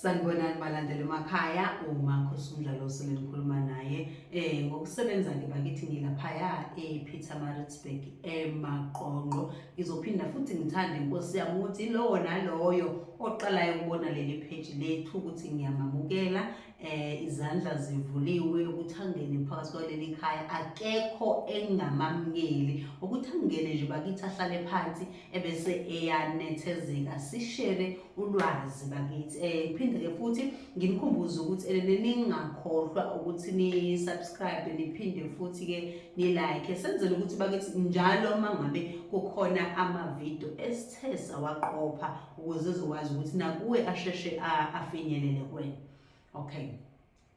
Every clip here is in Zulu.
sanibonani balandela emakhaya umakhosi umdlalo osele nikhuluma naye um ngokusebenza ke bakithi ngilaphaya e-peter maritzburg emaqonqo ngizophinda futhi ngithande inkosi yami ukuthi lowo naloyo oqalayo ukubona leli pheji lethu ukuthi ngiyamamukela eh izandla zivuliwe ukuthi angene phakathi kwaleli khaya akekho engamamngeli ukuthi angene nje bakithi ahlale phansi ebese eyanethezeka sishere ulwazi bakithi eh phinde ke futhi ngimkhumbuze ukuthi elene ningakhohlwa ukuthi ni subscribe niphinde futhi ke ni like senzele ukuthi bakithi njalo mangabe kukhona ama video wakuthesa waqopha ukuze uzokwazi ukuthi nakuwe asheshe afinyelele kwena okay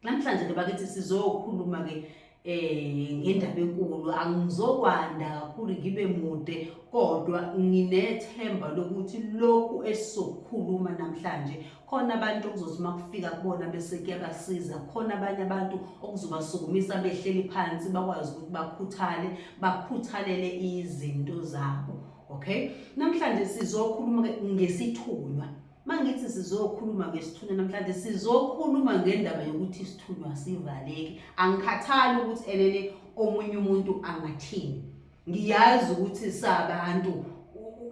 namhlanje ke bakithi sizokhuluma ke eh ngendaba enkulu angizokwanda kakhulu ngibe mude kodwa nginethemba lokuthi lokhu esizokhuluma namhlanje khona abantu okuzothi uma kufika kubona bese kuyabasiza khona abanye abantu okuzobasukumisa behleli phansi bakwazi ukuthi bakhuthale bakhuthalele izinto zabo okay namhlanje sizokhuluma ngesithunywa mangithi sizokhuluma ngesithunywa namhlanje sizokhuluma ngendaba yokuthi isithunywa sivaleki angikhathali ukuthi elele omunye umuntu angathini ngiyazi ukuthi sabantu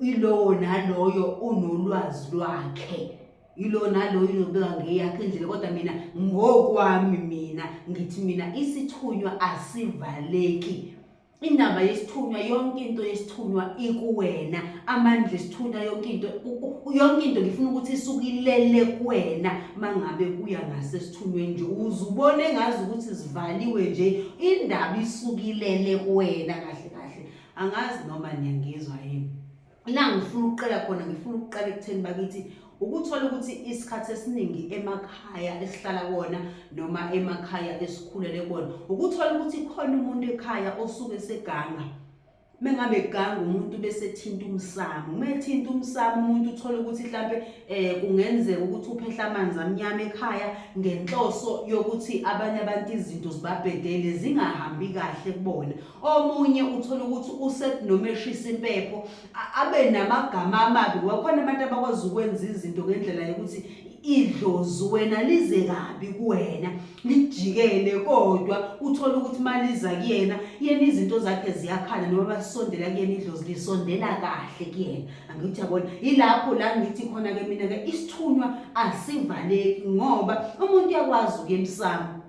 ilowo naloyo unolwazi lwakhe yilo naloyo unobeka ngeyakhe indlela kodwa mina ngokwami mina ngithi mina isithunywa asivaleki indaba yesithunywa yonke into yesithunywa ikuwena amandla esithunywa yonke into yonke into ngifuna ukuthi isukilele kuwena mangabe kuya ngasesithunyweni nje uzubone ngazi ukuthi zivaliwe nje indaba isukilele kuwena kahle kahle angazi noma niyangizwa yini la ngifuna ukuqala khona ngifuna ukuqala ekutheni bakithi ukuthola ukuthi isikhathi esiningi emakhaya esihlala kona noma emakhaya esikhulele kona ukuthola ukuthi khona umuntu ekhaya osuke seganga mengabe ganga umuntu bese thinta umsamo umethinta umsamo umuntu uthole ukuthi mhlambe eh kungenzeka ukuthi uphehla amanzi amnyama ekhaya ngenhloso yokuthi abanye abantu izinto zibabhedele zingahambi kahle kubona omunye uthola ukuthi usekunomeshisa impepho abe namagama amabi wakhona abantu abakwazi ukwenza izinto ngendlela yokuthi idlozi wena lize kabi kuwena lijikele kodwa uthole ukuthi maliza kuyena yena izinto zakhe ziyakhala noma basondela kuyena idlozi lisondela kahle kuyena angithi yabona yilapho la ngithi khona ke mina ke isithunywa asivaleki ngoba umuntu uyakwazi ukuye emsamo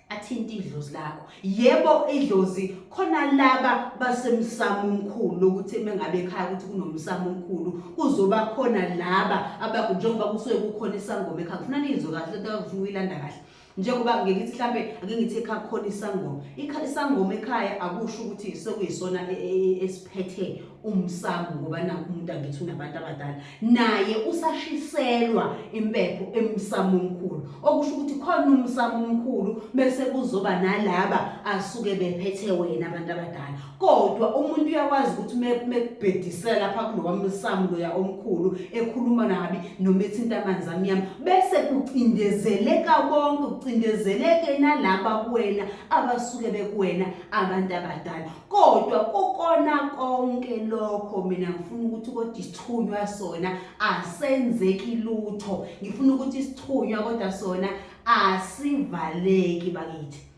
athinte idlozi lakho yebo idlozi khona laba basemsamo omkhulu lokuthi mengabe ekhaya ukuthi kunomsamo omkhulu kuzoba khona laba abaku njengoba kusuke kukhona isangoma ekhaya kufuna nizwe kahle lento akufuna uyilanda kahle njengoba ngeke ngithi mhlambe ake ngithi ekhaya khona isangoma isangoma ekhaya akusho ukuthi sekuyisona e, e, e, esiphethe umsamo ngoba nakho umuntu angithi unabantu abadala naye usashiselwa impepho emsamo omkhulu okusho ukuthi khona umsamo omkhulu bese kuzoba nalaba asuke bephethe wena abantu abadala kodwa umuntu uyakwazi ukuthi mekubhedisela lapha kulowamsamo loya omkhulu ekhuluma nabi noma ethinta amanzi amnyama bese kucindezeleka bonke kucindezeleke nalaba kuwena abasuke bekuwena abantu abadala kodwa kukona konke lokho mina ngifuna ukuthi kodwa isithunywa sona asenzeki lutho ngifuna ukuthi isithunywa kodwa sona asivaleki bakithi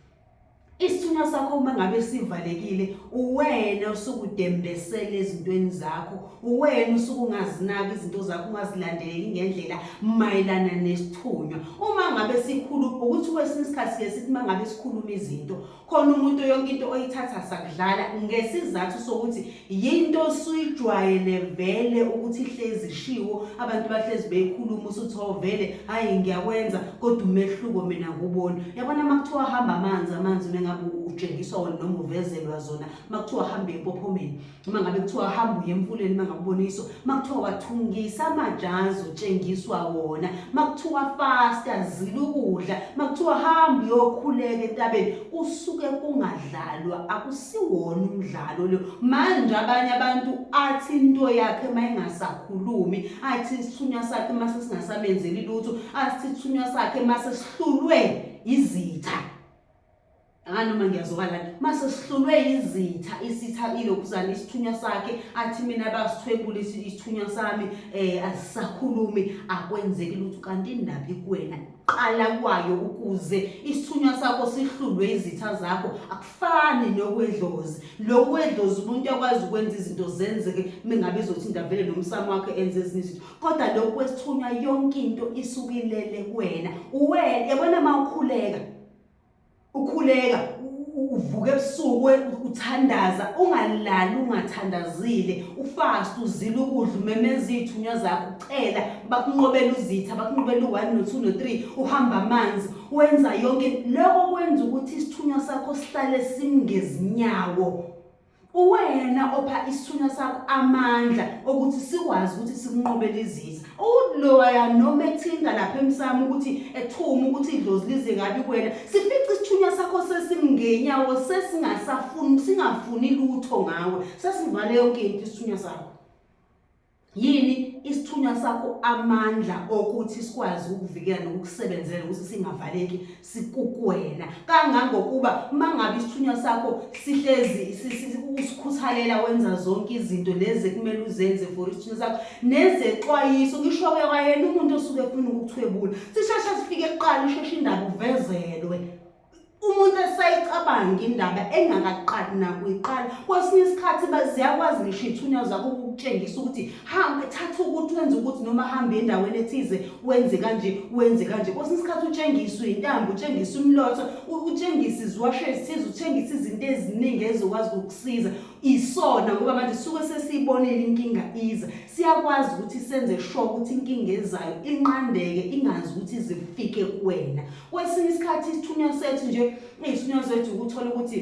isithunywa sakho uma ngabe sivalekile uwena usukudembesela ezintweni zakho uwena usukungazinaki izinto zakho ungazilandeleli ngendlela mayelana nesithunywa uma ngabe sikhulu ukuthi kwesinye isikhathi ke sithi mangabe sikhuluma izinto khona umuntu yonke into oyithatha sakudlala ngesizathu sokuthi yinto osuyijwayele vele ukuthi ihlezi ishiwo abantu bahlezi beyikhuluma usuthi o oh, vele hhayi ngiyakwenza kodwa umehluko mina ngubona yabona uma kuthiwa hamba amanzi amanzi unengabe utshengiswa wona noma uvezelwa zona uma kuthiwa hamba empophomeni uma ngabe kuthiwa hamba uye emfuleni uma ngabe uboniswa uma kuthiwa wathungisa amajazi utshengiswa wona uma kuthiwa fasta zila ukudla uma kuthiwa hamba uyokhuleka entabeni kusuke kungadlalwa akusiwona umdlalo lo manje abanye abantu athi into yakhe uma ingasakhulumi athi isithunywa sakhe uma sesingasamenzeli lutho athi isithunywa sakhe uma sesihlulwe izitha hayi noma ngiyazwakala lana mase sihlulwe yizitha isitha ilokhuzana isithunywa sakhe athi mina basithwebula isithunywa sami eh asisakhulumi akwenzeki lutho kanti indaba ikuwena qala kwayo ukuze isithunywa sakho sihlulwe izitha zakho akufani nokwedlozi lokwedlozi umuntu akwazi ukwenza izinto zenzeke mengabe izothi indavele nomsamo wakhe enze ezinye izinto kodwa lokwesithunywa yonke into isukilele kuwena uwena yabona uma ukhuleka ukhuleka uvuke ebusuku uthandaza ungalali ungathandazile ufast uzile ukudla umemeza iy'thunywa zakho ucela bakunqobela uzitha bakunqobela u-one no-two no-three uhamba amanzi wenza yonke loko kwenza ukuthi isithunywa sakho sihlale singezinyawo Uwena opha isithunywa sakho amandla okuthi sikwazi ukuthi sikunqobele izitha. Uloya noma ethinta lapha emsamo ukuthi ethuma ukuthi idlozi lize ngabi kuwena. Sifica isithunywa sakho sesimngenyawo sesingasafuni singafuni lutho ngawe. Sesivale yonke into isithunywa sakho. yini isithunywa sakho amandla okuthi sikwazi ukuvikela nokukusebenzela ukuthi singavaleki sikukwena kangangokuba uma ngabe isithunywa sakho sihlezi usikhuthalela wenza zonke izinto lezi ekumele uzenze for isithunywa sakho nezexwayiso ngisho ke kwayena umuntu osuke efuna ukuthwebula sisheshe sifike kuqala isheshe indaba uvezelwe umuntu esayicabangi indaba engakaqali nakuyiqala kwesinye isikhathi ziyakwazi ngisho iy'thunywa zakho ukukutshengisa ukuthi hamba thatha ukuthi wenze ukuthi noma hambe endaweni ethize wenze kanje wenze kanje kwesinye isikhathi utshengiswe intambo utshengise umlotho utshengise iziwasho ezithize utshengise izinto eziningi ezokwazi ukukusiza isona ngoba manje suke sesiyibonile inkinga iza siyakwazi ukuthi senze sure ukuthi inkinga ezayo inqandeke ingazi ukuthi zifike kuwena Kwesinye isikhathi isithunywa sethu nje iy'thunywa zethu ukuthola ukuthi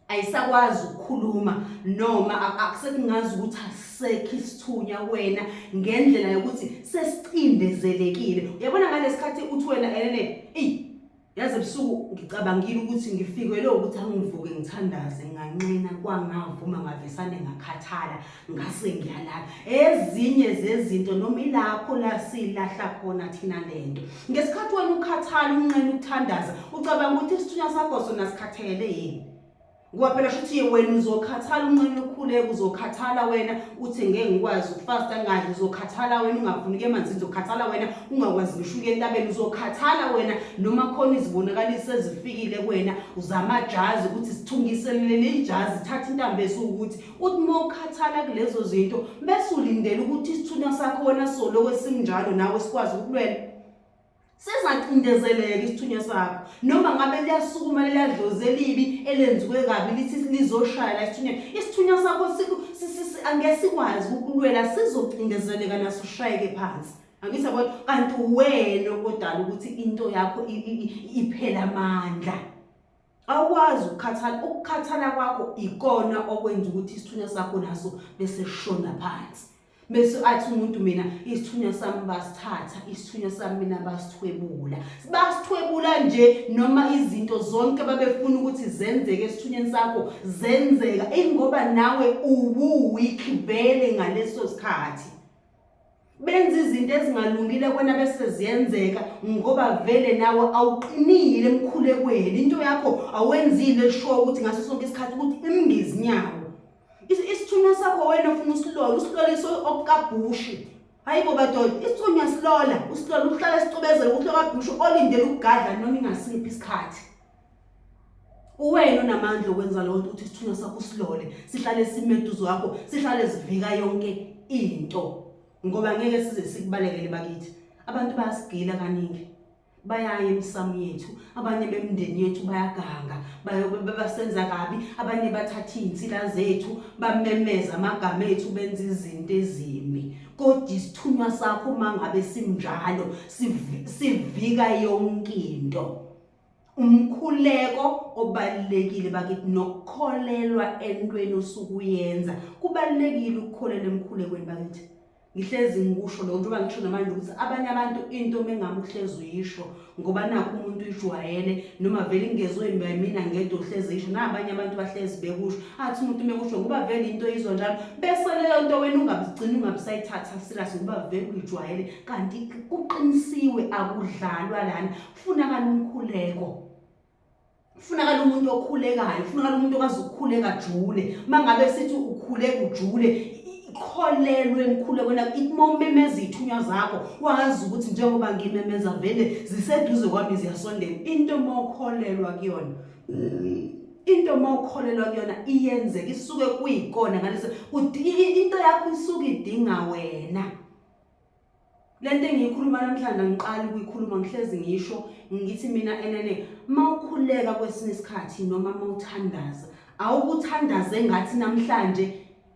ayisakwazi ukukhuluma noma akusekungazi ukuthi asisekho isithunya wena ngendlela yokuthi sesicindezelekile uyabona ngalesikhathi uthi wena elele eyi yazi ebusuku ngicabangile ukuthi ngifikelwe ukuthi angivuke ngithandaze nganqina kwangavuma ngavesane ngakhathala ngase ngiyalala ezinye zezinto noma ilapho la silahla khona thina lento ngesikhathi wena ukhathala unqena ukuthandaza ucabanga ukuthi isithunywa sakho sona sikhathele yini ngoba phela shuthi wena uzokhathala unqena ukhuleka uzokhathala wena uthi ngeke ngikwazi ukufasta ngadli uzokhathala wena ungafuni ke manzi uzokhathala wena ungakwazi ngisho uke entabeni uzokhathala wena noma khona izibonakaliso ezifikile kuwena uzama jazi ukuthi sithungiselele leli jazi thatha intambo esukuthi uthi uma ukhathala kulezo zinto bese ulindele ukuthi isithunywa sakho wena soloko esinjalo nawe sikwazi ukulwela sizacindezeleka isithunywa sakho noma ngabe liyasukuma liyadlozi elibi elenziwe kabi lithi lizoshaya la isithunywa isithunywa sakho angeke sikwazi ukulwela sizocindezeleka naso ushayeke phansi angithi yabona kanti wena okodala ukuthi into yakho iphela amandla awukwazi ukukhathala ukukhathala kwakho ikona okwenza ukuthi isithunywa sakho naso bese shona phansi bese athi umuntu mina isithunywa sami basithatha isithunywa sami mina basithwebula basithwebula nje noma izinto zonke babefuna ukuthi zenzeke esithunyweni sakho zenzeka ingoba nawe uwu weak vele ngaleso sikhathi benza izinto ezingalungile kwena bese ziyenzeka ngoba vele nawe awuqinile emkhulekweni into yakho awenzile sho ukuthi ngaso sonke isikhathi ukuthi imngizinyawo isithunywa sakho wena ufuna usilola usilolisa okukabhushi hayi bo badoda isithunywa silola usilola uhlala sicobezela ukuthi okabhushu olindele ukugadla noma ingasiphi isikhathi uwena onamandla okwenza leyo nto ukuthi isithunywa sakho silole sihlale simeduzo wakho sihlale sivika yonke into ngoba ngeke size sikubalekele bakithi abantu bayasigila kaningi bayaye emsamu yethu abanye bemndeni yethu bayaganga basenza kabi abanye bathatha iy'nsila zethu bamemeza amagama ethu benza izinto ezimi kodwa isithunywa sakho uma ngabe simnjalo sivika yonke into umkhuleko obalulekile bakithi nokukholelwa entweni osuke uyenza kubalulekile ukukholela emkhulekweni bakithi ngihlezi ngikusho lokho njengoba ngisho namanje ukuthi abanye abantu into mengabe uhlezi uyisho ngoba nakho umuntu uyijwayele noma vele ingezwe mina ngedwa uhlezi yisho nabanye abantu bahlezi bekusho athi umuntu mekusho ngoba vele into izwa njalo bese leyo nto wena ungabigcini ungabisayithatha serious ngoba vele uyijwayele kanti kuqinisiwe akudlalwa lana Kufunakala umkhuleko. Kufunakala umuntu okhulekayo, kufunakala umuntu okwazi ukukhuleka jule. Mangabe sithi ukhuleka ujule, kholelwe emkhulekweni ithi uma umemeza iy'thunywa zakho wazi ukuthi njengoba ngimemeza vele ziseduze kwami ziyasondela into uma ukholelwa kuyona into uma ukholelwa kuyona iyenzeka isuke kuyikona ngaleso into yakho isuke idinga wena le nto engiyikhuluma namhlanje angiqali ukuyikhuluma ngihlezi ngisho ngithi mina enene uma ukhuleka kwesinye isikhathi noma uma uthandaza awukuthandaze ngathi namhlanje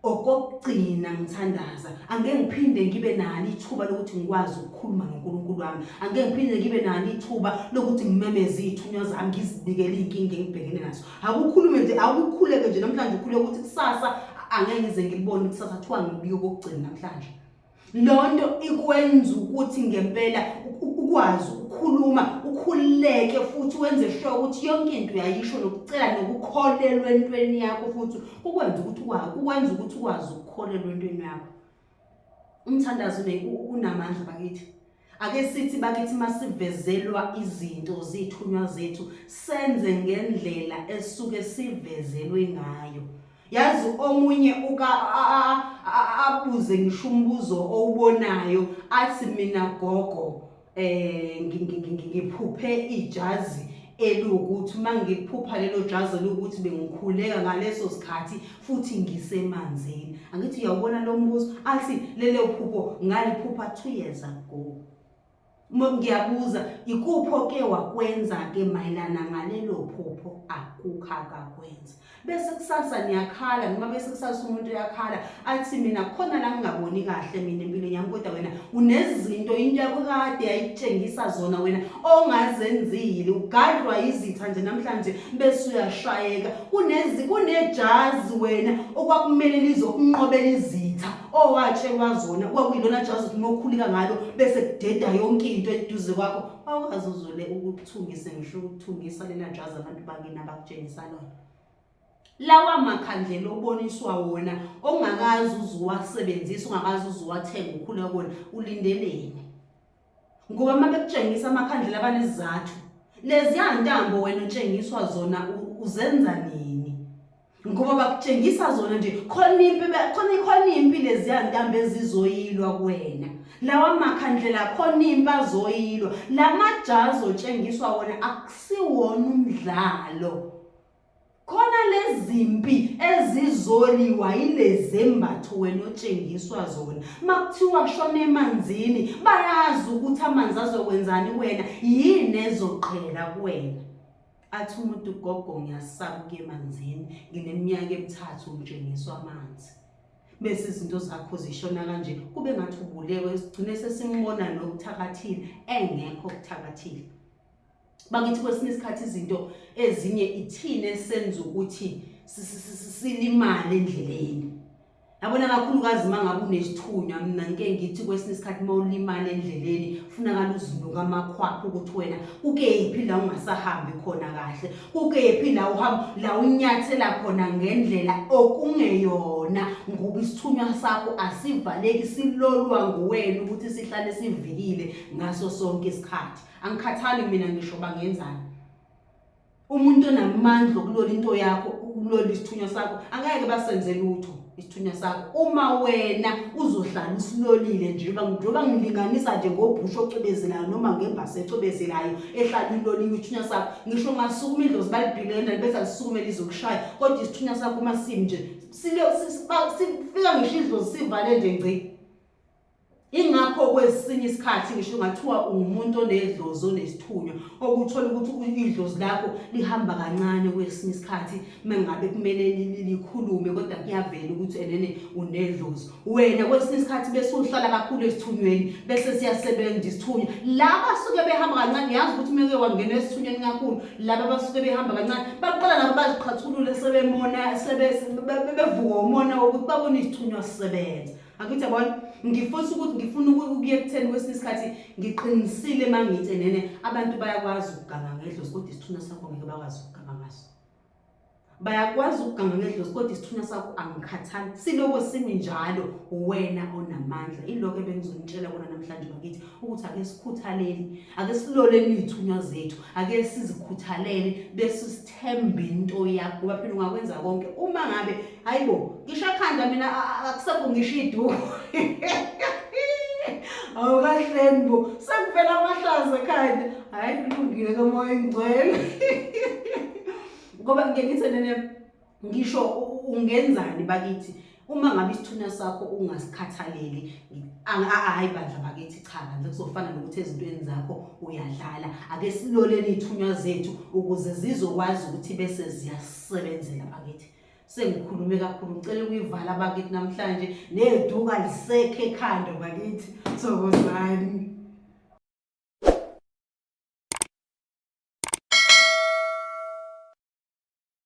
okokugcina ngithandaza angeke ngiphinde ngibe nalo ithuba lokuthi ngikwazi ukukhuluma noNkulunkulu wami angeke ngiphinde ngibe nalo ithuba lokuthi ngimemeze ithunywa zami ngizibikele inkinga engibhekene nazo akukhulume nje akukhuleke nje namhlanje ukhuleke ukuthi kusasa angeke ngize ngibone kusasa kuthiwa ngibike okokugcina namhlanje lonto ikwenza ukuthi ngempela ukwazi ukukhuluma ukhululeke futhi wenze sure ukuthi yonke into uyayisho nokucela nokukholelwa entweni yakho futhi ukwenza ukuthi ukwenza ukuthi ukwazi ukukholelwa entweni yakho umthandazo unamandla bakithi Ake sithi bakithi masivezelwa izinto zithunywa zethu senze ngendlela esuke sivezelwe ngayo. Yazi omunye uka abuze ngisho umbuzo owubonayo athi mina gogo eh ngiphuphe ijazi elukuthi uma ngiphupha lelo jazi lokuthi bengikhuleka ngaleso sikhathi futhi ngisemanzini angithi uyawubona lo mbuzo athi lelo phupho ngaliphupha two years ago ngiyabuza ikuphi oke wakwenza-ke mayelana ngalelo phupho akukho akakwenza bese kusasa niyakhala noma bese kusasa umuntu uyakhala athi mina khona la ngingaboni kahle mina empilweni yami kodwa wena unezinto into yakho kade yayitshengisa zona wena ongazenzile ugadlwa yizitha nje namhlanje bese uyashayeka kunezi kunejazi wena okwakumele lizokunqobela izitha owatshelwa zona kwakuyilona jazi ukuthi mokhulika ngalo bese kudeda yonke into eduze kwakho awukazi uzole ukuthungise ngisho ukuthungisa lena jazi abantu bakini tshengisa lona lawa makhandlela oboniswa wona ongakazi uzuwasebenzisa ungakazi uzuwathenga ukhule kona ulindeleni ngoba uma bekutshengisa amakhandlela abanezizathu leziya ntambo wena utshengiswa zona uzenza nini ngoba bakutshengisa zona nje khona impi khona khona impi leziya ntambo ezizoyilwa kuwena lawa makhandlela khona impi azoyilwa lamajazi otshengiswa wona siwona umdlalo khona lezimpi ezizoliwa yilezembatho wena otshengiswa zona makuthiwa shona emanzini bayazi ukuthi amanzi azokwenzani wena yini ezoqhela kuwena athi umuntu ugogo ngiyasaba ukuya emanzini ngineminyaka emithathu ngitshengiswa amanzi bese izinto zakho zishona kanje kube ngathi ubulewe sigcine sesimbona nokuthakathile engekho okuthakathile bakithi kwesinye isikhathi izinto ezinye ithina esenza ukuthi silimale endleleni yabona kakhulukazi uma ngabe unesithunywa mina ngike ngithi kwesinye isikhathi uma ulimale endleleni funakala uzinuka amakhwapha ukuthi wena kukephi la ungasahambi khona kahle kukephi la uhamba la unyathela khona ngendlela okungeyona ngoba isithunywa sakho asivaleki silolwa nguwena ukuthi sihlale sivikile ngaso sonke isikhathi angikhathali mina ngisho bangenzani umuntu onamandla okulola into yakho ukulola isithunywa sakho angeke basenze lutho isithunywa sakho uma wena uzohlala usilolile nje njengoba ngilinganisa nje ngobhusha ocwebezelayo noma ngembasa ecwebezelayo ehlala iloliwe isithunywa sakho ngisho ungasukuma indlozi balibhile endala bese lisukume lizokushaya kodwa isithunywa sakho uma simi nje sifika ngisho idlozi sivale nje ngci Ingakho kwesinye isikhathi ngisho ngathiwa ungumuntu onedlozi onesithunywa okuthola ukuthi idlozi lakho lihamba kancane kwesinye isikhathi mengabe kumele likhulume kodwa kuyavela ukuthi enene unedlozi wena kwesinye isikhathi bese uhlala kakhulu esithunyweni bese siyasebenza isithunywa laba suke behamba kancane yazi ukuthi meke wangena esithunyweni kakhulu laba basuke behamba kancane baqala nabo baziqhathulule sebemona sebevuka umona wokuthi babone isithunywa sisebenza angithi yabona ngifose ukuthi ngifuna ukuya ekutheni kwesinye isikhathi ngiqinisile uma ngithi nene abantu bayakwazi ukuganga ngedlozi kodwa isithunywa sakho ngeke bakwazi ukuganga ngaso bayakwazi ukuganga ngedlozi kodwa isithunywa sakho angikhathali siloko simi njalo wena onamandla iloko ebengizonitshela kona namhlanje bakithi ukuthi ake sikhuthaleli ake siloleni iy'thunywa zethu ake sizikhuthalele bese thembe into yakho ngoba phela ungakwenza konke uma ngabe hayibo ngisho ekhanda mina akusekho ngisho iduku awukahleni bo sekuvela amahlaza ekhanda hhayi kulungile kamoya engcwele ngoba ngiye ngithe nene ngisho ungenzani bakithi uma ngabe isithunywa sakho ungasikhathaleli hayi bandla bakithi cha bandla kuzofana nokuthi ezintweni zakho uyadlala ake siloleni iy'thunywa zethu ukuze zizokwazi ukuthi bese ziyasebenzela bakithi sengikhulume kakhulu ngicela ukuyivala bakithi namhlanje neduka lisekhe ekhanda bakithi sokozani